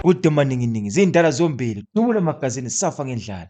Kude maninginingi zindala zombili, Dubula Magazini safa ngendlala.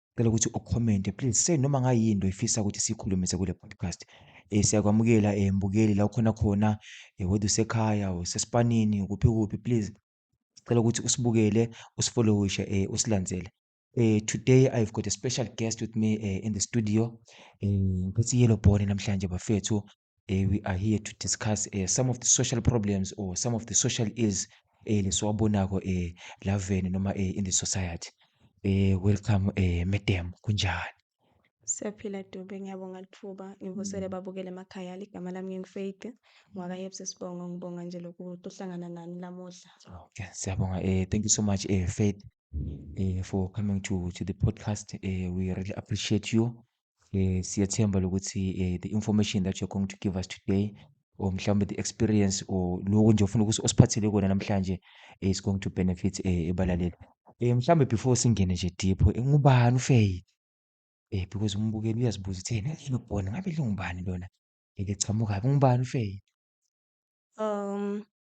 Ngicela ukuthi ucommente please say noma ngayini into oyifisa ukuthi siyikhulumise kule podcast. Eh siyakwamukela eh mbukeli la ukhona khona eh whether usekhaya or usesipanini kuphi kuphi please. Ngicela ukuthi usibukele, usifollowishe eh usilandzele. Eh today I've got a special guest with me eh in the studio. Eh ngiphethe yellow bone namhlanje bafethu. eh, we are here to discuss eh, some of the social problems or some of the social ills eh, lesiwabonako eh, laveni noma eh, in the society eh, welcome eh, madam kunjani Siyaphila Dube, ngiyabonga lithuba. Ngivusele mm. babukele emakhaya. Ligama lami nginguFaith, ngwakaYebs Sibongo. Ngibonga nje lokhu ukuhlangana nani lamuhla. Okay, siyabonga. Eh, thank you so much, eh, Faith, eh, for coming to to the podcast. Eh, we really appreciate you. um siyathemba lokuthi um the information that you're going to give us today or mhlawumbe the experience or loko nje ofuna ukuthi osiphathele kona namhlanje is going to benefit um ebalaleli um mhlawumbe before singene nje deep ngubani ufeyi um because umbukeli uyazibuza ukuthi yena yini ubona ngabe lingubani lona elichamukayo ngubani ufeyi um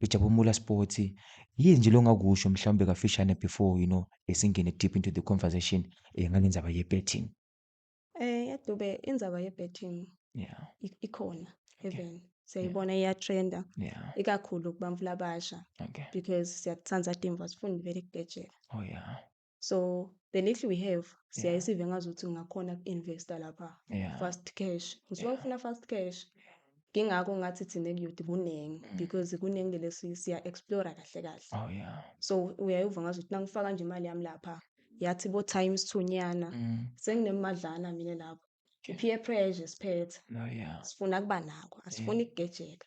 Lujabumula Sports, yini nje longakusho mhlawumbe kafishane before you know esingene deep into the conversation eh, ngale ndaba ye-betting? Eh yaDube indzaba ye-betting Yeah, i- ikhona even siyayibona iyatrenda yeah, ikakhulu kubantu labasha okay. because siyakuthanda timva sifuna vele kubhejela. Oh yeah. So the little we have siyaye Yeah. sive ngazi ukuthi ngingakhona ku-investa lapha Yeah. fast cash. Ngisuke Yeah. ngifuna fast cash. Ngingakho ngathi thina kuyoti kuningi Mm. because kuningi lesi siya explore kahle kahle. Oh yeah. So uyaye uva ngazi ukuthi nangifaka nje imali yami lapha yathi bo times two nyana Mm. senginemadlana mina lapho. Okay. Peer pressure siphethe. No, yeah. Sifuna kuba nako, asifuni ukugejeka.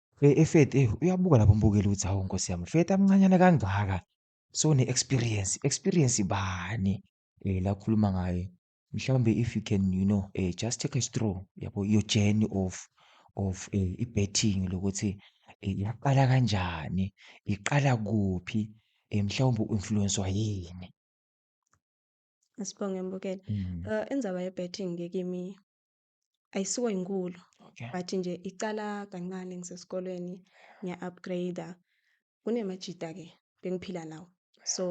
Efethi eyi uyabuka lapho umbukeli ukuthi hawu nkosi yami Fethi amncanyana kangaka so ne-experience experience bani um la khuluma ngaye mhlawumbe if you can you know um just take a straw yabo your journey of of um i-betting lokuthi um yaqala kanjani iqala kuphi um mhlawumbe u-influenswa yini Sibonge Mbukeli. Mm. Uh, indzaba ye-betting-ke kimi ayisiko inkulu Okay. but nje icala kancane ngisesikolweni ngiya-upgrade kunemajita-ke bengiphila nawo so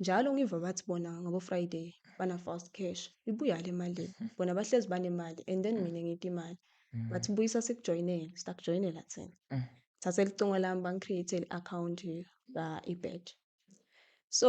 njalo ngiva bathi bona ngabo-friday bana-fast cash ibuya le mali bona bahlezi banemali and then mina ngiyita imali Mm. bathi buyisa sikujoyinele sitakujoyinela thina Mm. thatha elicingo lami bangi-create-ele i-akhawunti ka-ebet so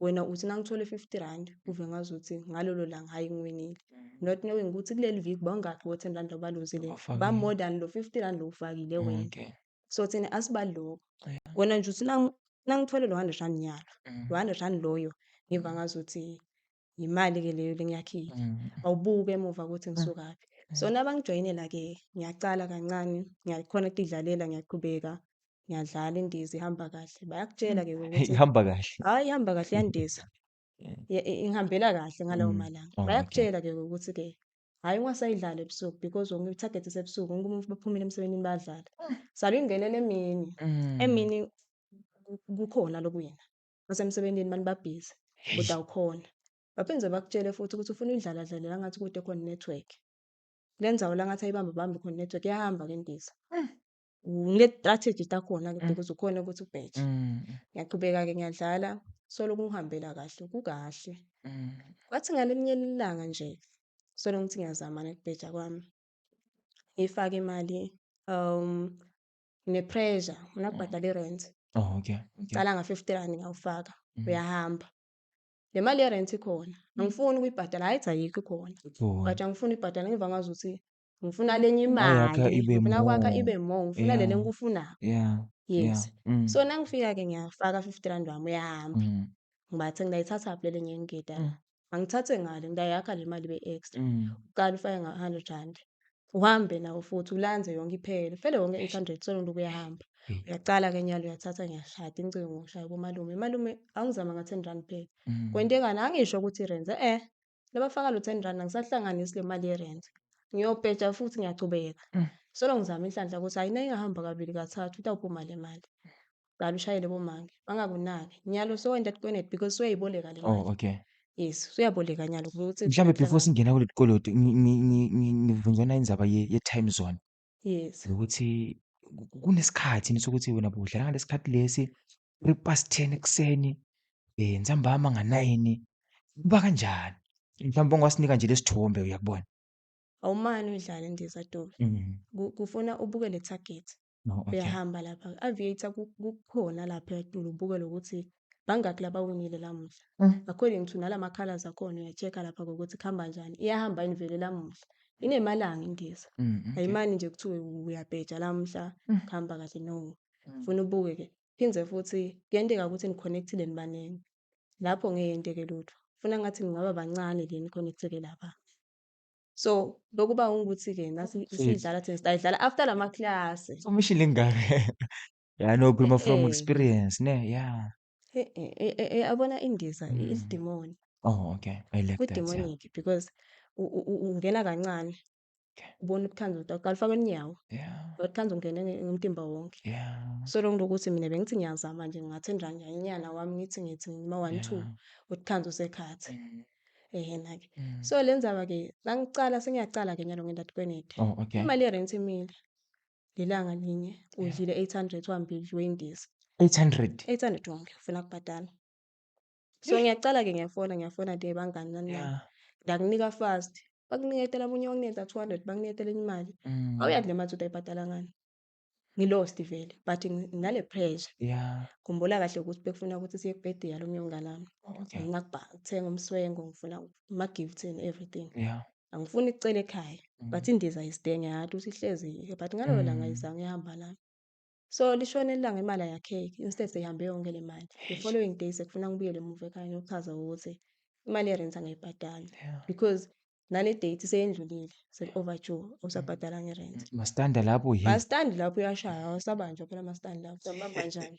wena uthi nangithole 50 rand kuve ngazuthi ngalolo langa hayi ngiwinile mm. not knowing ukuthi kuleli viki bangakhi bo 10 rand obaluzile ba more than lo 50 rand lowufakile wena okay. so thina asibaloko yeah. wena nje uthi nangithole lo 100 rand nyalo mm. lo 100 rand loyo ngiva ngazuthi yimali ke leyo lengiyakhile mm. awubuke emuva ukuthi ngisukaphi mm. so nabangijoyinela ke ngiyaqala kancane ngiyakhona ukudlalela ngiyaqhubeka Ngiyadlala indiza ihamba kahle. Bayakutshela ke ukuthi Ihamba kahle. hayi ihamba kahle iyandiza. Yeah. Ye- i- Ingihambela kahle ngalawo Mm. malanga. Oh, okay. Bayakutshela ke ukuthi ke hayi ungasayidlali ebusuku because wonke i-target isebusuku wonke umuntu baphumile emsebenzini badlala. Salo ingenele emini. Mm. Emini ku- kukhona lokuwina. Basemsebenzini mani babhizi Eish. kodwa awukhona. Baphinde bakutshele futhi ukuthi ufuna uyidlala dlalela ngathi kude khona network. Lenzawo la ngathi ayibambe bambe khona network iyahamba ke indiza. ngine-strategy takhona-ke Mm. because ukhona ukuthi ubheje Mm, ngiyaqhubeka-ke ngiyadlala solo kungihambela kahle kukahle mm, kwathi ngalelinye ilanga nje solo ngithi ngiyazama nokubheja kwami ngifake imali um nginepressure ngifuna kubhadala irent oh okay okay ngicala nga-fifty rand ngiyawufaka Mm. uyahamba le mali yerent ikhona angifuni ukuyibhadala hayi cha ayikho ikhona Cool. but angifuni ibhadala ngiva ngazi ukuthi ngifuna lenye imali ngifuna kwakha ibe more ngifuna yeah. lele engikufunayo yeah. yes yeah. Mm. so nangifika-ke ngiyafaka fifty rand wami uyahamba mm. ngibathe ngidayithathaphi lele ngenye ngida mm. angithathe ngale ngidayakha le mali be-extra mm. uqala ufake nga-hundred rand uhambe nawo futhi ulanze yonke iphele ufele wonke eight hundred solo nto kuyahamba mm. uyaqala ke nyalo uyathatha ngiyashada incingo ngishaya komalume malume angizama nga-ten rand phela mm. kwentekani angisho ukuthi renze eh laba faka lo 10 rand angisahlanganisi le mali yerent ngiyobheja futhi ngiyachubeka mm. solo ngizama inhlanhla ukuthi hayi nayingahamba kabili kathathu itawuphuma le mali qala ushayele bomange bangakunaki nyalo so end up kwenet because uyayiboleka le oh, mali oh okay yes uyaboleka nyalo ukuthi mhlawumbe before singena kuleli koloti ngivunjana indaba ye-time zone Yes. Ukuthi kunesikhathi yini sokuthi wena budlala ngalesi khathi lesi, three past ten ekuseni, um ntambama nganayini, kuba kanjani? Mhlawumbe ungasinika nje lesi thombe uyakubona. Awumane udlale ndiza Dube. Mm. Ku- Kufuna ubuke le target. No, okay. Uyahamba lapha. Aviator ku- kukhona lapha etulo ubukele ukuthi bangaki labawinile lamuhla mm. according to nala makhalas akhona uya-check-a lapha kokuthi kuhamba njani iyahamba yini vele lamuhla inemalanga indiza mm, okay. ayimani nje kuthiwe uyabheja lamuhla mm. kuhamba kahle no mm. funa ubuke ke phinde futhi kuyenteka ukuthi ni-connectile nibaningi lapho ngeke yenteke lutho funa ngathi ningaba bancane le ni-connecteke lapha so lokuba ukuthi-ke nasidlala thina sidayidlala after la maklasi umishile ingane Ya no khuluma from Eh, experience ne. Yeah. eh, eh, eh, eh, eh, yabona indiza i- Mm. isidimoni Oh okay. I like that. Yeah. kudemonic because u- u- u- ungena kancane Okay. ubona ubuthanda ukuthi awuqali ufake unyawo Yeah. ubuthanda ungene nge- ngomtimba wonke Yeah. so lonto ukuthi mina bengithi ngiyazama nje ngingathi njanyanyana wami ngithi ngithi ngima one two Yeah. uthanda usekhathi Mm. ehena ke Mm. so le ndzaba ke nangicala sengiyacala ke nyalo ngenda tikwenete Oh okay. imali yerent imile ngelanga linye udlile 800 wambi wendiza 800 800 wonke ufuna kubhadala so ngiyacala ke ngiyafona ngiyafona de bangani nani nani yeah ndakunika fast bakuniketela omunye wakunikeza 200 bakuniketela enye imali Mm. awuyazi le mali uthi ayibhadala ngani ngilost vele but ngi- nginale pressure yeah khumbula kahle ukuthi bekufuna ukuthi siye kubhedea lo myongana wami okay ngifuna kubha- ukuthenga umswengo ngifuna ama-gifts and everything yeah angifuni icela ekhaya mm. but indiza isidenge yathi uthi ihlezi yiyo but ngalelo mm. langa izange ihamba lana so lishone ilanga imali ayakheki instead seyihambe yonke le mali the following day sekufuna ngibuyele emuva ekhaya ngiyochaza ukuthi imali yerent angayibhadali yeah. because nale date seyendlulile sek-overdue usabhadala ngerent masitanda lapho masitandi lapho uyashaya awusabanjwa phela masitandi lapho sabamba njani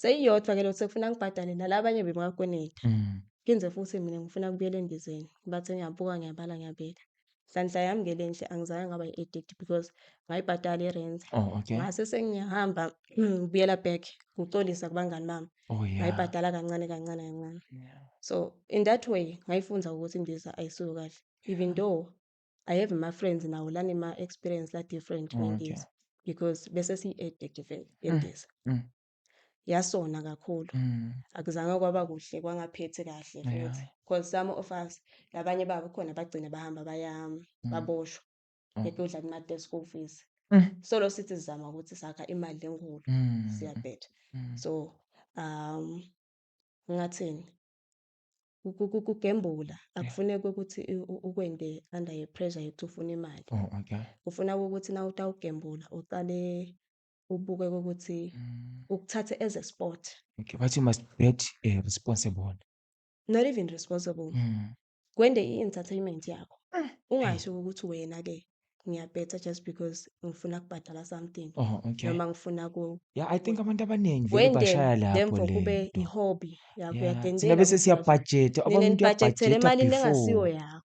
Seyiyodwa ke lo sekufuna ngibhadale nala abanye bebakweneta. Mm. Ngize futhi mina ngifuna kubuyela endizeni. Bathe ngiyabuka ngiyabala ngiyabeka. Nhlanhla yami ke lenhle angizange ngaba i-addict because ngayibhadala i-rent. Oh, okay. Ngase sengiyahamba ngibuyela back ngicolisa kubangani bami. Oh, yeah. Ngayibhadala kancane kancane kancane. Yeah. So in that way ngayifunda ukuthi indiza ayisuyo kahle. Even though I have my friends nawo lani ma experience la different oh, okay. because bese si addict vele yendiza mm. mm. yasona kakhulu mm. akuzange kwaba kuhle kwangaphethi kahle futhi yeah. because some of us labanye babo khona bagcina bahamba baya mm. baboshwa oh. bekudla kuma desk school fees mm. so lo sithi sizama ukuthi sakha imali enkulu mm. siyabhetha mm. so um ngathini ukugembula akufuneki ukuthi ukwende under ye pressure yokuthi ufuna imali. Oh, okay. Kufuna ukuthi na utawugembula uqale ubuke ukuthi mm. ukuthathe as a sport. Okay, but you must get uh, eh, responsible. Not even responsible. Mm. Kwende i-entertainment yakho. Mm. Ungasho ukuthi wena-ke ngiyabhetha just because ngifuna kubhadala something Oh, okay. noma ngifuna ku Yeah, I think abantu abaningi vele kwenten bashaya lapho lemvo le kube nto. i-hobby yakho Yeah, thina uyadentela bese ukuthi siya uyazi budget, nina okwami nibhajethela ngiyabhajeta emalini engasiyo before. yakho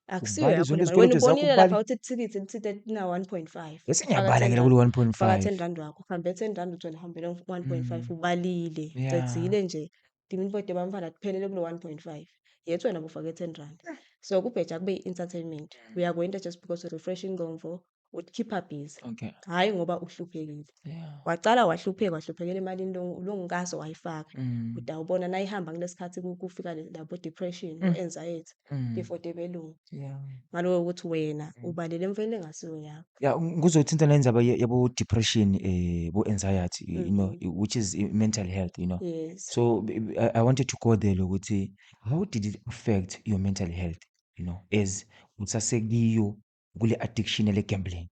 akusiyo Ubale yakho zonke le mali wena izikoloto zakho ubonile lapha ubale. ukuthi ithikithi lithithe na 1.5 Bese faka ngiyabala 10 ke rand lokhu faka 10 1.5. rand wakho uhambe 10 rand uthole uhambele 1.5 Mm. ubalile Yeah. cedzile nje Give me kodwa bamfana kuphelele kulo 1.5. Yet wena bufake 10 rand. So kubheja kube i-entertainment. We are going there just because we're refreshing Gomvo. Would keep her busy. Okay. Hhayi ngoba uhluphekile. Yeah. Waqala wahlupheka wahluphekela emalini lo lo ngikaso wayifaka. Mm. Kodwa ubona nayihamba kulesikhathi ku- kufika le- labo depression, Mm. anxiety. Mm. before debelungu Yeah. ngaloyo ukuthi wena Mm. ubalele emfeni engasiyo yakho ya um, kuzothinta nendaba ye- yabo-depression um bo-anxiety you know Mhm. i- which is i- mental health you know yes so b- b- I, I wanted to go there lokuthi how did it affect your mental health you know as usasekuyo kule addiction ele gambling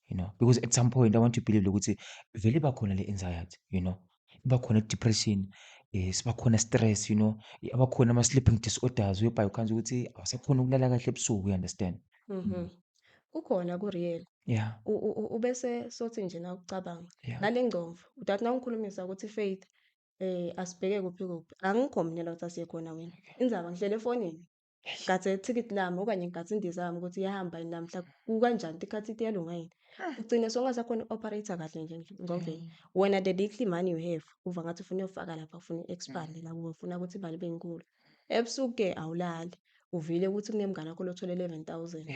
you know because at some point i want to believe ukuthi vele iba khona le anxiety you know iba khona depression eh siba khona stress you know aba khona ama sleeping disorders whereby ukhanza ukuthi awusakhona ukulala kahle ebusuku you understand mhm mm. kukhona ku real yeah ubese sothi nje na ucabanga nale ngcomfo udathi nawungikhulumisa ukuthi faith eh asibheke kuphi kuphi angikho mina la ukuthi asiye khona wena inzaba ngihlele efonini nkathi ithikithi lami okanye nkathi indiza yami ukuthi iyahamba yini namhla kukanjani tikhathi ithi iyalunga yini ah. ugcine songasakhona i-operator kahle nje ngobe mm. wena the little money you have uva ngathi ufuna uyofaka lapha ufuna i-expand mm. nakuwe ufuna ukuthi imali ibe nkulu ebusuku-ke awulali uvile ukuthi kunemngane wakho lothole eleven thousand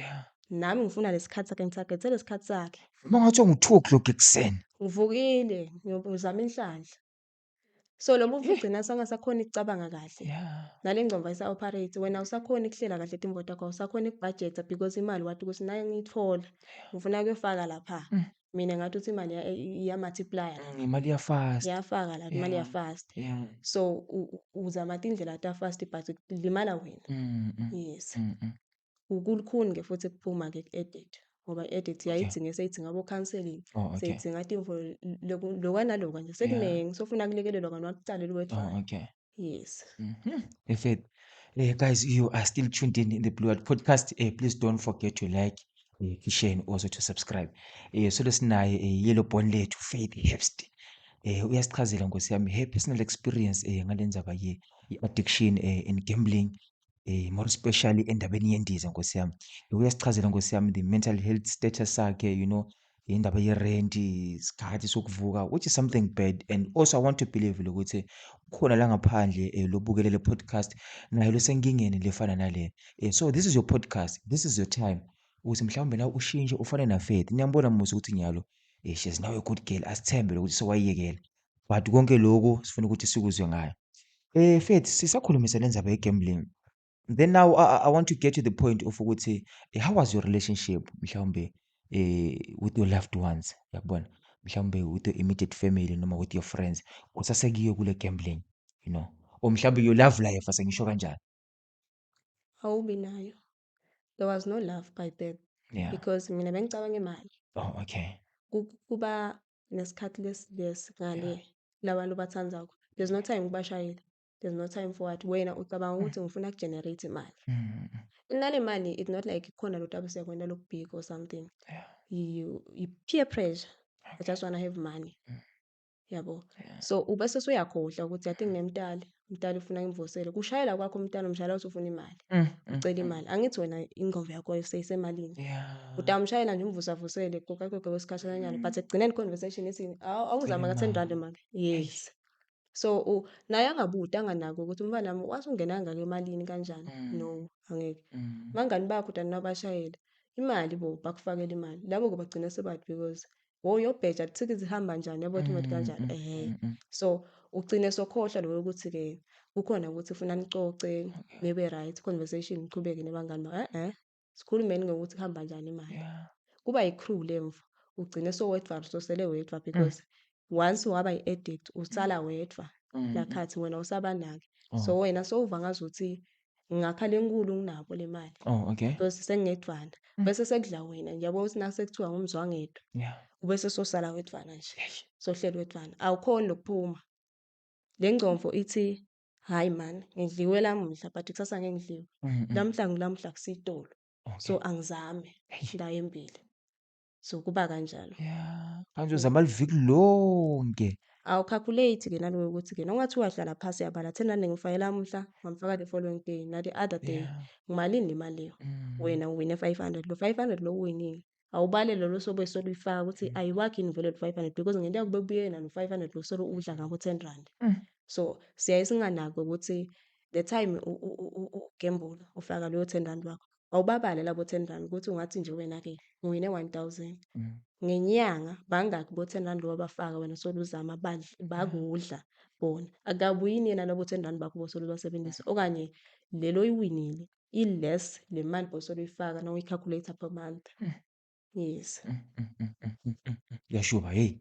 nami ngifuna lesikhathi sakhe ngithagethe lesikhathi sakhe Uma ngathiwa ngu-two o'clock ekuseni ngivukile ngizama inhlanhla so lo mufi ugcina sangasakhona icabanga kahle nale ngcomba isa operate wena usakhona ukuhlela kahle timbo takho usakhona ukubudget because imali wathi ukuthi nayo ngiyithola ngifuna kuyofaka lapha mm. mina ngathi uthi imali iya multiply mm, imali ya fast yafaka la imali ya fast so uzama indlela ta fast but limala wena mm, yes Kulukhuni-ke futhi kuphuma-ke ku-edit ngoba i-edit Okay. yayidzinge seyidzinga abo-counselling, Oh, okay. seyidzinga tinfo loku loka naloka nje, sekuningi sofuna kulekelelwa kanti wakucala Oh, eliwedvwana. okay. Yes. Mhm. Perfect. Eh, guys, you are still tuned in in the Blue Heart Podcast. Eh, please don't forget to like, eh, to share, and also to subscribe. Eh, so lesinaye eh, yellow bone lethu Faith Herbst. Eh, uyasichazela nkosi yami her personal experience eh ngalendzaba ye addiction eh and gambling Eh, more especially endabeni yendiza nkosi yami. Uyasichazela nkosi yami the mental health status sakhe, you know, indaba ye-rent, isikhathi sokuvuka, which is something bad. And also I want to believe ukuthi khona la ngaphandle eh, lobukele le podcast naye losenkingeni lefana nale. Eh, so this is your podcast, this is your time. Ukuthi mhlawumbe nawe ushintshe ufane naFaith. Niyambona Musa ukuthi nyalo. Eh, she's now a good girl. Asithembe lokuthi sewayiyekela. but konke lokhu sifuna ukuthi sikuzwe ngayo eh Faith sisakhulumisa lendaba ye-gambling then now I, I want to get to the point of ukuthi eh, how was your relationship mhlawumbe eh with your loved ones yakubona mhlawumbe with your immediate family noma with your friends kusasekiyo kule gambling you know or mhlawumbe your love life asengisho kanjani awubi nayo there was no love by then yeah. because mina bengicabanga imali oh okay kuba nesikhathi lesi lesi ngale yeah. labantu bathandako there's no time kubashayeli there's no time for what wena ucabanga ukuthi ngifuna kugenerate imali mm. nale mali it's not like khona lo tabu siyakwenda lokubhika or something yeah. you, you peer pressure okay. i just want to have money mm. yabo yeah. so ubese suyakhohlwa ukuthi i think nemtali umntana ufuna imvoselo kushayela kwakho umntana umshayela uthi ufuna imali mm, mm, mm. ucela imali angithi wena ingqondo yakho seyisemalini utamshayela nje umvusavusele kokakoke wesikhathalanyana but ekugcineni conversation ithi awuzama ka-ten rand make yes so naye angabuti anganaki ukuthi umfana wami wathi ungenanga ke emalini kanjani no angeke bangani bakho utanina abashayela imali bo bakufakela imali labo-ke bagcina sebati because oh yobheja lithiki zihamba njani yabo ukuthi mm, kanjani mm, ehe mm, mm. so ugcine sokhohlwa lowo ukuthi ke kukhona ukuthi ufuna nicoce nibe right conversation niqhubeke nebangani eh eh sikhulumeni ngokuthi kuhamba njani imali yeah. kuba yi-crew lemvu ugcine sowedwa usosele wedwa mm. because mm. once waba yi-addict usala mm. wedwa mm. nakhathi wena usabanaki oh. so wena sowuva ngazuthi ngapha lenkulu nginabo le mali oh okay bese sengedwana mm. bese sekudla wena ngiyabona ukuthi naku sekuthiwa ngumzwangedwa yeah ubese sosala wedwana nje sohlelo wedwana awukhona lokuphuma le ngcomfo ithi hayi man ngidliwe lamuhla but kusasa ngeke ngidliwe mm, mm. lamuhla ngilamuhla kusitolo so angizame ndayo embili zokuba kanjalo yeah manje uzama liviki lonke awucalculate ke naloyo ukuthi ke nongathi uyahlala phasi yabala thena ningifakela umhla ngamfaka the following day nati other day yeah. ngimalini le mali leyo mm. wena uwine 500 lo 500 lo uwinile awubale lolo sobe solo uyifaka ukuthi mm. ayiwakhi yini vele 500 because ngento yakube kubuyena no 500 lo solo udla ngabo 10 rand mm. so siyaye singanaki ukuthi the time ugembula ufaka leyo 10 rand wakho awubabale labo 10 rand ukuthi ungathi nje wena-ke ngiwine 1000 mm. ngenyanga bangaki bo 10 rand lowabafaka wena soluzama mm. bakudla bona akabuyini yena labo 10 rand bakho bosolubasebenzisa okanye lelo oyiwinile i-less le mali bosoluyifaka na uyikhakhuletha per month mm. yes yashuba heyi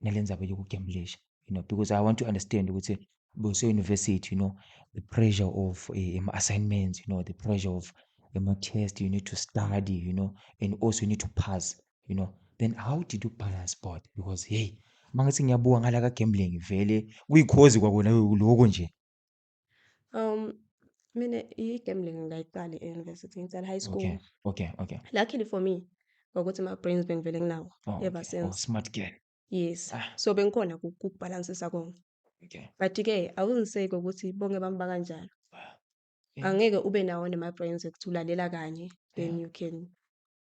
nale ndzaba yokugemlisha you know because i want to understand ukuthi buse-university you know the pressure of eh, ama-assignments you know the pressure of ama-test you need to study you know and also you need to pass you know then how did you balance both because hey mangithi ngiyabuka ngala ka-gambling vele kuyikhozi kwakona lokho nje Um, mina i-gambling ngayiqali e-university, ngiqala high school. Okay, okay, okay. Luckily for me, ngokuthi ama-brains bengivele nginawo Oh, ever okay. Oh, since. smart girl. Yes. Ah. So bengikhona ku- kukubhalansisa konke. Okay. But-ke awuzinseki ukuthi bonke bami bakanjalo. Yeah. Angeke ube nawo nema-brains ukuthi ulalela kanye, then you can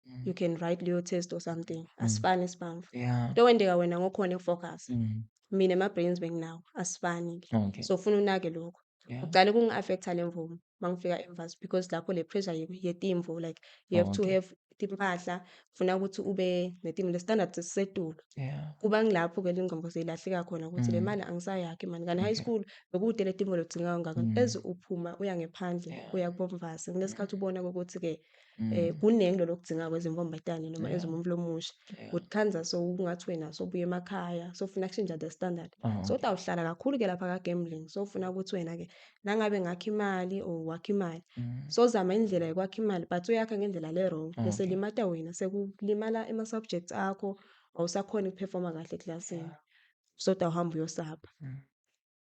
Mm. you can write leyo test or something mm. asifani isibamvu yeah. into wendeka wena ngokhona ukufocus mm. mina ama-brains benginawo asifani ke okay. so funa unake lokho yeah. uqale kungi-affecta le mvumo uma ngifika emvasi because lapho le pressure yetimvu like you have oh, okay. to have timpahla funa ukuthi ube netimu le-standard sisetulu yeah. kuba ngilapho ke lingqondo seyilahleka khona ukuthi mm. le mali angisayakhi mani kanti high school bekude le timu lodzinga kangaka mm. eze uphuma uya ngephandle yeah. uya kubomvasi kunesikhathi ubona kokuthi-ke um mm. kuningi lolo kudzinga kwenza inkombetane noma enza umuntu lomusha ukuthi khanza so ungathi wena sobuya emakhaya sofuna kushintsha the standard uh-huh. so kodwa uhlala kakhulu-ke lapha ka-gambling sofuna ukuthi wena-ke nangabe ngakho imali or wakho imali mm. sozama indlela yokwakha imali but uyakha ngendlela le-wrong ah, bese limata wena sekulimala ama-subjects akho awusakhona ukuphefoma kahle eklasini soda uhamba uyosapha mm.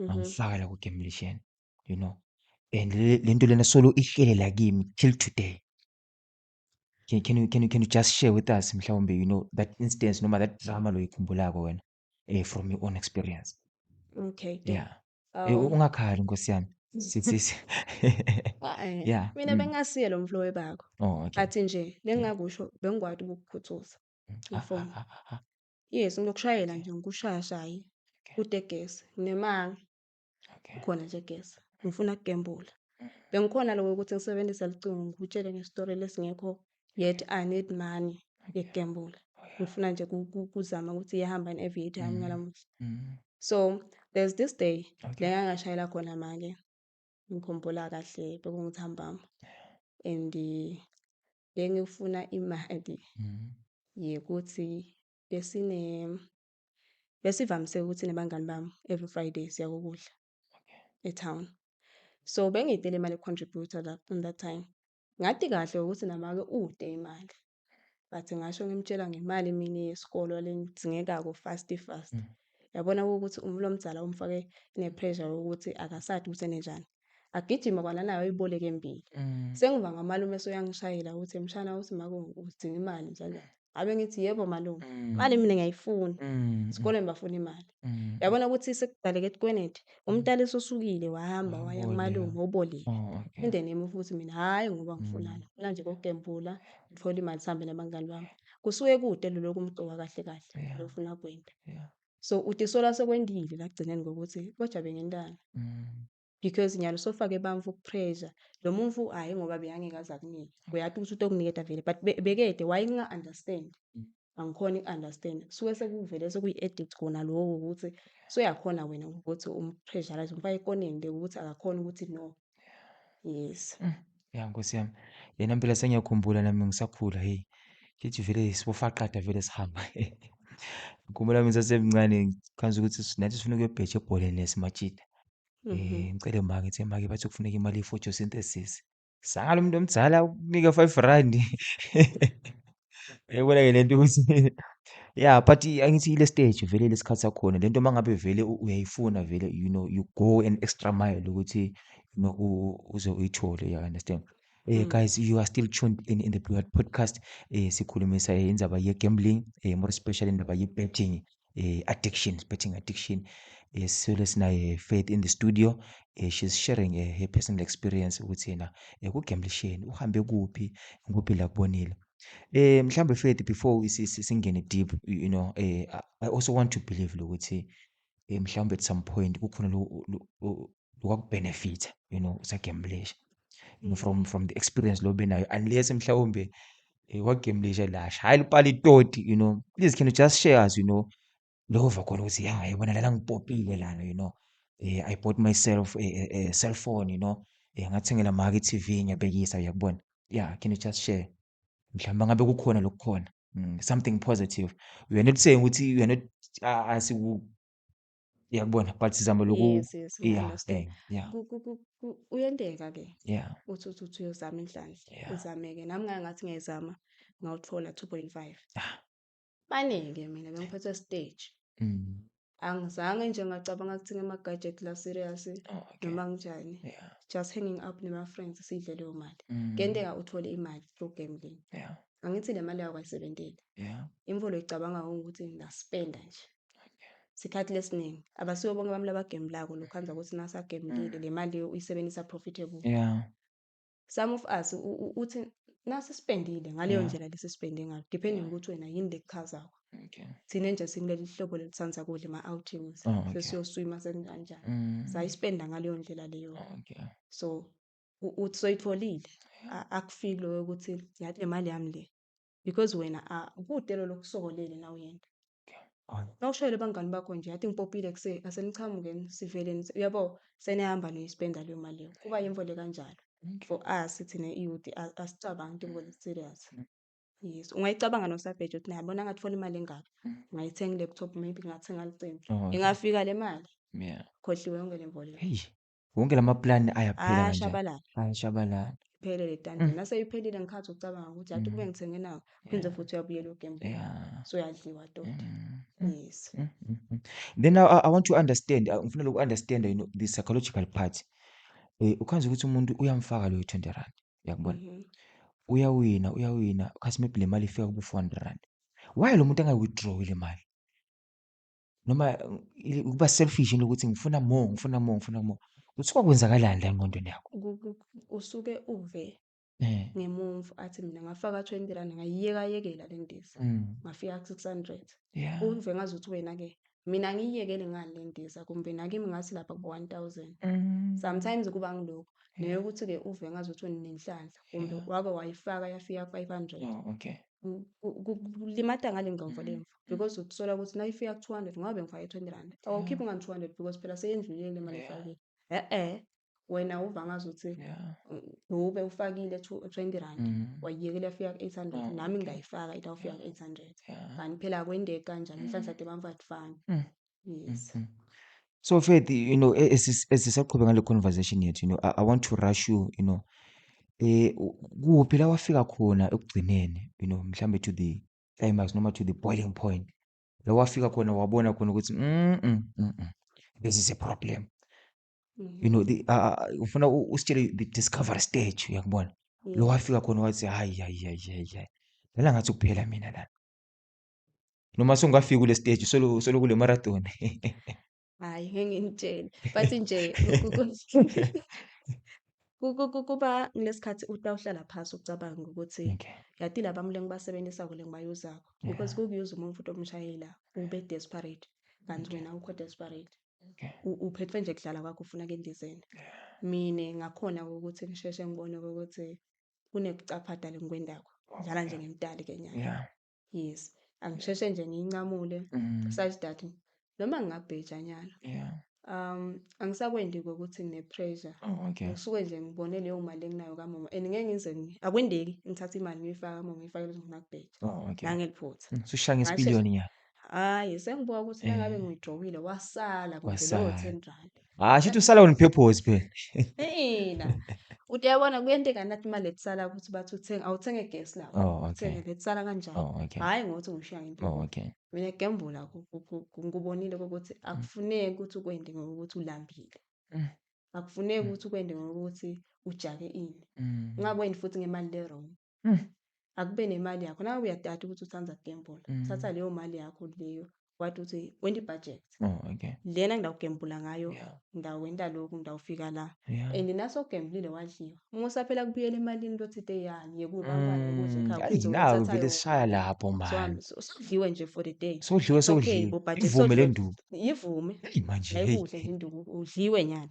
ngangifaka la kugemlishen you know and le nto lena solo ihlelela kimi till today can, can, you, can, you, can you just share with us mhlawumbe you know that instance noma that drama loyikhumbulako wena eh, from your own experience okay yeah eh, um, ungakhali nkosi yami sisisi yeah mina mm. bengasiye lo mflowe bakho oh, okay. athi nje bengingakusho bengikwati ukukukhuthuza mm. ah, ah, ah, Yes, ngiyokushayela nje ngikushaya shaye Okay. kutegesi. Nginemanga Okay. khona nje gesi. Ngifuna ukugembula. Mhm. Bengikhona lokho ukuthi ngisebenzise licingo ngikutshele ngestori lesingekho yet I need money Okay. yokugembula. Oh, yeah. Ngifuna nje ku- ku- kuzama ukuthi iyahamba yini i-aviator yami Mm. ngalamuhla. Mhm. So there's this day la Okay. ngangashayela khona make ngikhumbula kahle bekunguthambama and eh, bengifuna imali Mhm. yekuthi besine besivamise ukuthi nabangani bami every Friday siya kokudla Okay. etown. So bengiyidela imali econtributor la on that time. Ngathi kahle ukuthi namake ude imali. But ngasho ngimtshela ngemali mina yesikolo lengidingekako fast fast. Mm. Yabona ukuthi umuntu omdala umfake ne pressure ukuthi akasadi ukuthi enenjani. agijima kwananayo ayiboleke embili mm. sengiva ngamalume esoyangishayela ukuthi mshana uthi mako udinga imali njalo abe ngithi yebo malume mm. imali mina ngiyayifuna mm. sikoleni bafuna imali yabona ukuthi sekudaleke etikweneti umntala esosukile wahamba ah, waya kumalume obolile oh, indeni yami futhi mina hhayi ngoba ngifunana funa nje kokugembula ngithole imali sihambe nabangani bami kusuke kude lolokhu umgcoka kahle kahle lofuna kwenda So uthi iso laso kwendile la ekugcineni kokuthi kodwa bengentanga. Because nyalo sofake bamfu ukupressure. Lo mumfu hhayi ngoba beyangeke aze akunike. Uyati ukuthi utokuniketa vele but be- bekede why ninga-understand? Angikhoni uku-understand. Kusuke sekuvele sekuyi-addict kona lokho ukuthi soyakhona wena ukuthi umpressurize umfake ekoneni le ukuthi akakhoni ukuthi no. yes mm. ya nkosi yami yena mpela sengiyakhumbula nami ngisakhula heyi kithi vele sibofaqada vele sihamba ngikhumbula mina sasemncane ngikhanza ukuthi nathi sifuna ukuyobheja ebholeni lesimajida um mhm. eh, ngicele ma ngithi make bathi kufuneka imali ye-photosynthesis sangalo muntu omdala ukunika five rand Uyayibona ke lento ukuthi yeah but angithi ile stage vele lesikhathi sakhona lento mangabe vele uyayifuna vele you know you go an extra mile ukuthi you know uze uyithole you understand Eh mm. guys you are still tuned in in the Blue Heart Podcast eh sikhulumisa eh, indaba ye gambling eh more especially indaba ye betting eh, addiction betting addiction eh, sisole sinaye faith in the studio eh, she's sharing eh, her personal experience ukuthi yena eh, kugamblisheni uhambe kuphi ngikuphi la kubonile eh mhlambe faith before si- si- singene deep you you know eh, I- i also want to believe lokuthi eh, mhlawumbe at some point kukhona lo- lo- o- kwakubhenefitha you know usagemblisha mm. from from the experience lo benayo unless mhlawumbe eh, wagemblisha lasha hhayi lupala itoti you know please can you just share us you know lova khona ukuthi ya yabona lana ngipopile lana you know eh, i bought myself a, a, a cell phone you know eh, ngathengela maki i-tv ngiyabekisa uyakubona yeah can you just share mhlawumbe ngabe kukhona lokukhona mm, something positive we are not saying ukuthi we are not uh, Uyakubona? But sizama loku Yes, yes, we yeah, understand. bang, yeah, Ku- ku- ku- ku- Uyenteka ke yeah, uthi uthi uthi uyozama inhlanhla yeah. izameke nami ngake ngathi ngiyayizama ngawuthola 2.5 Ah. baningi mina bengiphethwe stage Mm. angizange nje ngacabanga ukuthi ngema-gadget la serious Oh, okay. noma kunjani Yeah. just hanging up nema-friends sidle leyo mali Mm. kuyenteka uthole imali through gambling Yeah. Angithi le mali yakho ayisebenzeli. Yeah. Imfolo icabanga ukuthi ngingaspenda nje. Sikhathi lesiningi abasiwo bonke abantu abagembulako lokhu anza ukuthi nasagembulile mm. le mali uyisebenzisa profitable. Yeah. Some of us uthi nasisipendile ngaleyo Yeah. ndlela lesisipende ngayo depending Yeah. ukuthi wena yini lekuchazako. Okay. Thina nje sikuleli hlobo lelisandza kudla ama-outings Oh, okay. sesiyoswima senkanjani. Mm. Sayispenda ngaleyo ndlela leyo. Okay. So uthi soyitholile akufili loyo ukuthi yathi le mali yami le because wena kude lolo kusokolele nawe yena nawushayele abangani bakho nje yathi ngipopile kuse aseniqhamuke sivele uyabo senihamba niyispenda leyo mali leyo kuba yimvo le kanjalo for us thina iyouth asicabangi into ngoba serious mm. Yes, ungayicabanga nosabheja ukuthi nayabona ngathi funa imali engaka, mm. ngayithenga i-laptop maybe ngathenga licingo, oh, ingafika le mali, Yeah. khohliwe yonke le mboleko. Wonke la maplani ayaphela kanje. Ayashabalala. Ayashabalala. Iphele le tanda. Mm. Nase iphelile ngikhathi ucabanga ukuthi athi kube mm. ngithenge nawo. Phinde yeah. futhi uyabuyela ugembe. Yeah. So uyadliwa toti. Mm. mm. Yes. Mm, mm, mm. Then I, I want to understand. Uh, ngifuna loku understand you know, the psychological part. Eh ukhanza ukuthi umuntu uyamfaka loyo 20 rand. Uyakubona? Mm -hmm. Uyawina, uyawina. Kasi maybe le mali ifika kubo 400 rand. Why lo muntu angayi withdraw le mali? noma ukuba selfish into ukuthi ngifuna more, ngifuna more, ngifuna more. Kuthiwa kwenzakalani la engqondweni yakho? usuke uve Eh. ngemumva athi mina ngafaka 20 rand ngayiyekayekela le ndiza, Mm. ngafika ku-600. Yeah. Uve ngazuthi wena-ke mina ngiyiyekele ngani le ndiza kumbe nakimi ngathi lapha kubo-1000. Mm. Sometimes kuba ngilokho neyokuthi-ke uve ngazuthi wena unenhlanhla kumbe Yeah. wake wayifaka yafika ku-500. Oh, okay. Ku- ku- Kulimata ngale ngqondo Mm. lemvu. because usola ukuthi na ifika ku 200 ngoba bengifake 20 rand awukhiphi ngani 200 because phela seyendlulile le mali efakile eh eh wena uva ngazi ukuthi ube ufakile 20 rand mm. wayiyekela yafika ku 800 nami ngingayifaka ithi awufika ku 800 kanti phela akwendeki kanjani mm. inhlanhla debamva kufana mm. yes mm-hmm. so faith you know e-, esisaqhubeka ngale conversation yethu you know I, i want to rush you you know eh kuphi la wafika khona ekugcineni you know mhlambe to the climax noma to the boiling point la wafika khona wabona khona ukuthi mm, mm, mm, mm, this is a problem Mhm. you know the, uh, uh, ufuna u- usitshele the discovery stage uyakubona Yeah. lo wafika khona wathi hayi hayi hayi hayi hayi lana ngathi kuphela mina lana noma songafika kule stage solo solo kule marathon Hhayi ngeke nginitshele but nje kuba ngilesikhathi utawuhlala phasi ucabanga ukuthi Okay. yati laba mule ngibasebenzisako le ngibayuzako because kukuyuza umuntu futhi omshayela ube desperate kanti wena awukho desperate Okay. U- uphethwe nje kudlala kwakho ufuna kendizeni mina ngakhona ukuthi ngisheshe ngibone ukuthi kunekucapha dala engikwendako ngidlala nje ngemtali ke nyaka Yeah. Yes. Angisheshe nje ngiyincamule Mm. such that noma ngingabheja nyalo. Yeah. Um angisakwendi ukuthi ngine pressure. Oh, okay. Ngisuke nje ngibone leyo mali enginayo kamama and ngeke ngize ngi- akwendeki ngithathe imali ngiyifaka kamama ngiyifakele ukuthi ngifuna kubheja. Oh, okay. Ngangeliphutha. Mm, Sushaya Ngasheshe- ngesipiliyoni nyalo. Hhayi sengibuka ukuthi nangabe Eh. ngiyidrowile wasala kudlule Wasala. o-ten rand. Hayi shithi usala on purpose phela. Ina. Uthi yabona kuyenteka nathi imali etisala ukuthi bathi uthenga awuthenge gas la. Oh okay. Uthenge letisala kanjani? Oh okay. Hayi ngothi ngishiya ngempilo. Oh okay. Mina gembula ku- ku- ku- ku- ngikubonile ukuthi akufuneki ukuthi ukwende ngokuthi ulambile. Mm. Akufuneki ukuthi ukwende ngokuthi ujake ini. Mm. Ungakwendi futhi ngemali le wrong. Mm. akube nemali yakho nawe uyatata ukuthi uthanda ukugembula Mm. thatha leyo mali yakho leyo wathi uthi wenta i-budget Oh, okay. lena ngidawugembula ngayo Yeah. ngidawenta lokhu ngidawufika la Yeah. and nasogembulile wadliwa uma usaphela kubuyela emalini lothi te yani yekubantwana ukuthi Mm, khaya ayi, uphinde nawe uyothatha vele yona sishaya lapho so mani hamba so- sodliwe nje for the day sodliwe It's okay, sodliwe bo, but ivume le sodliwe- nduku yivume Eyi, manje heyi. nayikudle nje induku udliwe nyalo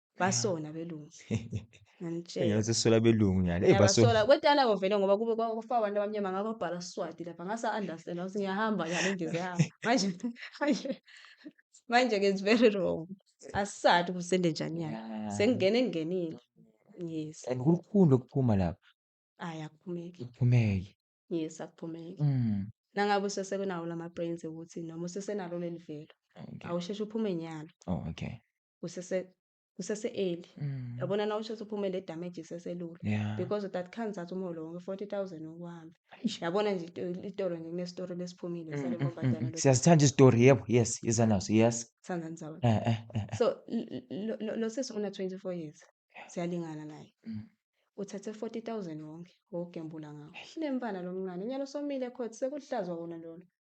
basona belungu nganitshela ngiyoze sola belungu nyana eh baso ngiyabasola kwetana kovele ngoba kube kwa- kwafa abantu abamnyama ngababhala swati lapha ngasa understand ukuthi ngiyahamba nyalo ngize yahamba manje manje manje ke it's very wrong asisati ukuthi sende njani nyalo Yeah. sengingene ngingenile yes and kulukhulu ukuphuma lapha ayi akuphumeki kuphumeke yes akuphumeki mm. nangabe usesenawo lama brains ukuthi noma usesenalo leli velo okay. awusheshe uphume nyalo oh, okay kusese kusese early mm. yabona na usho uphuma le damage iseselula yeah. because that can't that umholo wonke 40000 okuhambe yabona nje itoro nje kune story lesiphumile mm, sale mm, ngoba mm, siyazithanda istory yebo yes iza naso yes sithanda nzawo eh, eh, eh, eh. so lo sisi una 24 years siyalingana naye mm. uthathe 40000 wonke wogembula ngawo unemfana lomncane nyalo somile court sekuhlazwa wona lona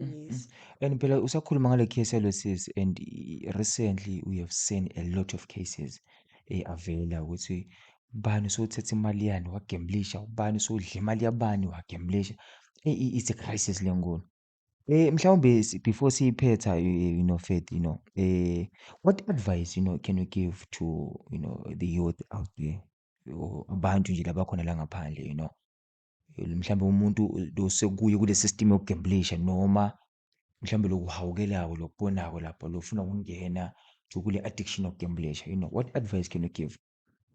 Mm, mm. Yes. And phela usakhuluma ngale case yalo sisi and i- recently we have seen a lot of cases eh, avela ukuthi ubani usothetha imali yani wagemblisha, ubani usodla imali yabani wagemblisha. Eh, i- it's a crisis le nkulu. Eh, mhlawumbe si- before siyiphetha you, you know Faith, you know, eh, what advice you know can you give to you know the youth out there or abantu nje labakhona la ngaphandle you know mhlawumbe umuntu losekuye kule system yokugemblisha noma mhlawumbe lokuhawukelako lokubonako lapho lofuna ukungena to kule addiction yokugemblisha you know what advice can you give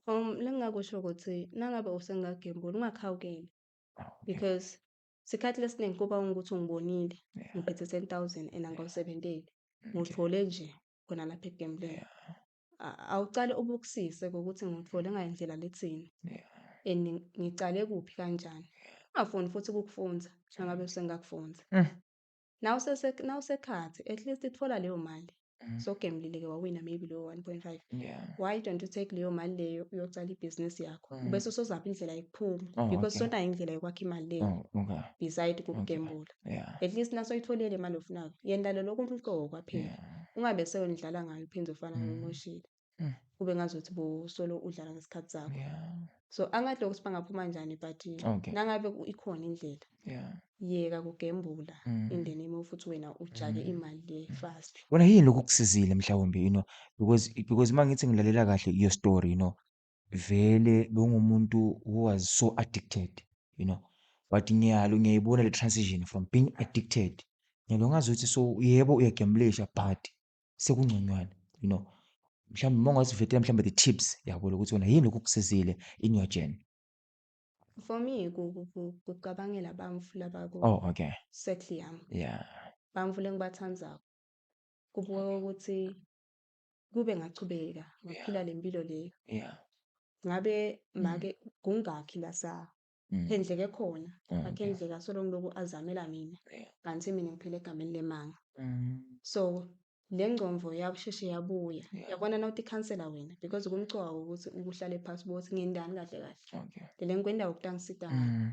um lengingakusho ukuthi nangabe usengagembula ungakhawukeli ah, because sikhathi lesiningi kuba ukuthi ungibonile ngiphethe ten thousand and angawusebenteli ngiwuthole nje khona lapha ekugembuleni awucale ubukisise ngokuthi ngithole ngayindlela lithini and ngicale kuphi kanjani ungafuni futhi ukukufunza njengabe usengakufunza mm. nawusekhathi at least ithola leyo mali mm. so gemlile-ke wawina maybe leyo one point five why don't you take leyo mali leyo uyocala ibhizinisi yakho mm. bese usozapha indlela yokuphuma oh, because sonayo indlela yokwakha imali leyo oh, beside kukugembula yeah. at least naso itholele imali ofunayo yenda lo lokhu umqoko kwaphela yeah. ungabe seyonidlala ngayo uphinde ufana mm. nomoshile mm. kube ngazothi bosolo udlala ngesikhathi sakho yeah. so angathi lokho sibangaphuma njani but okay. nangabe ikhona indlela yeah. yeka kugembula mm. in the name of ukuthi wena ujake mm. imali le mm. fast wena yini lokhu kusizile mhlawumbe you know because because uma ngithi ngilalela kahle your story you know vele bengumuntu who was so addicted you know but ngiyalo ngiyayibona le transition from being addicted ngiyalo ngazi ukuthi so yebo uyagemblisha but sekungconywana you know mhlawumbe uma ungasivetela mhlawumbe the tips yabo lokuthi wena yini lokhu kusizile in your journey for me kucabangela bamfu laba ku oh okay circle yami yeah bamfu lengibathandzako kubuka ukuthi kube ngachubeka ngaphila yeah. le mpilo leyo yeah. ngabe mm. make kungakhi la sa mm. phendleke khona mm. akhendleka solo ngiloku azamela mina yeah. kanti mina ngiphile egameni lemanga mm. so le ngcomvo yakusheshe yabuya yeah. yabona na uthi khansela wena because kumcoka ukuthi ukuhlale phasi bothi ngendani kahle kahle okay. lele ngikwenda ukutangisida mm.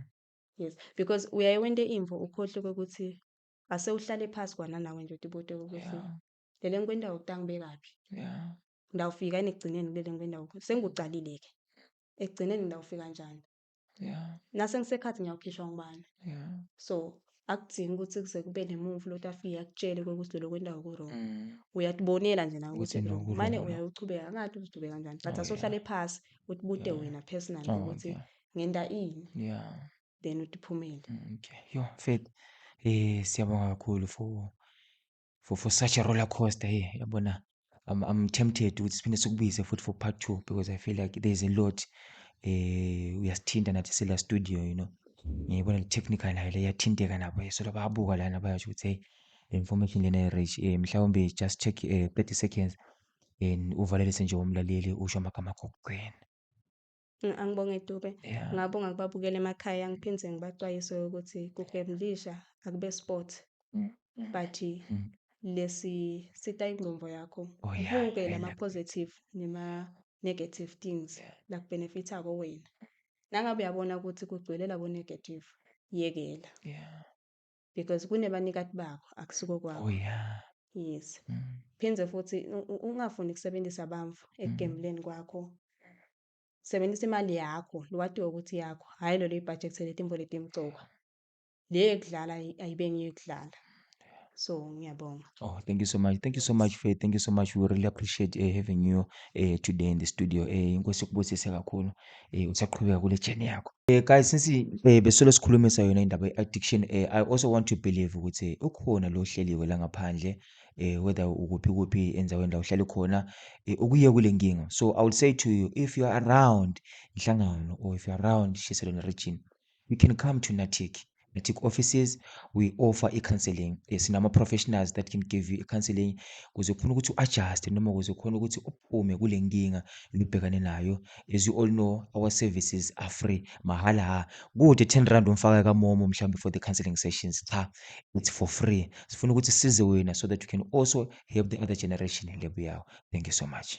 yes because uyaye wente imvo ukhohle ukuthi ase uhlale phasi kwananawe nje uthi bote ukuthi yeah. le le nkwenda utang bekaphi yeah ndawufika yini ekugcineni kule le nkwenda ukho sengucalile ke ekugcineni ndawufika njani yeah nase ngisekhathi ngiyawukhishwa ngubani yeah so akudingi ukuthi kuze kube nemuvu loti afike akutshele ukuthi lelo kwendawo ku-wrong mm. uyatibonela nje nawe ukuthi ku-wrong mane uyawuchubeka angathi uzidube kanjani but oh, asohlale phasi utibute wena personally oh, ukuthi ngenta ini yeah then utiphumele mm, okay yo mfethu eh siyabonga kakhulu for for, for such a roller coaster here yabona I'm, I'm tempted ukuthi siphinde sikubize futhi for part two because I feel like there's a lot eh uyasithinta nathi sila studio you know ngiyibona le technical nayo le yathinteka nabo so lababuka lana bayasho ukuthi hey information lena i-rich um eh, mhlawumbe just check um eh, 30 seconds and uvalelise nje umlaleli usho amagama akho kugcina Angibonge Dube. Yeah. Ngabonga kubabukela emakhaya ngiphinde ngibaxwayise ukuthi kugemlisha akube sport. Mm. mm. But mm. lesi sita ingqondo yakho. Oh, yeah. Konke lama positive nema negative things yeah. la kubenefitha ko wena. Nangabe uyabona ukuthi kugcwele labo negative yekela. Yeah. because kunebanikati bakho akusiko kwakho oh yeah yes mm. phinde futhi ungafuni ukusebenzisa bamfu mm. ekugembuleni kwakho sebenzisa imali yakho liwatiwe ukuthi yakho hhayi lolo ibhajekthe letimbo letimcoka le yokudlala ayibe ngiyokudlala so ngiyabonga Oh, thank you so much. Thank you so much, Faith. Thank you so much. We really appreciate uh, having you uh, today in the studio. Eh, inkosi kubusise kakhulu. Eh, usaqhubeka kule journey yakho. Eh, guys, since eh besolo sikhulumisa yona indaba addiction, eh, I also want to believe ukuthi ukhona lo hleliwe la ngaphandle eh whether ukuphi kuphi endaweni la uhlale khona eh, ukuye kule nkinga. So I would say to you if you are around inhlangano or if you are around Shiselweni region you can come to natic natic offices we offer i-counseling eh, sinama-professionals that can give you i-counseling kuze khona ukuthi u-adjuste noma kuze khona ukuthi uphume kule nkinga lubhekane nayo as you all know our services are free mahhala ha kude 10 rand umfaka kamomo mhlawumbe for the counseling sessions cha it's for free sifuna ukuthi size wena so that you can also help the other generation lebuyawo thank you so much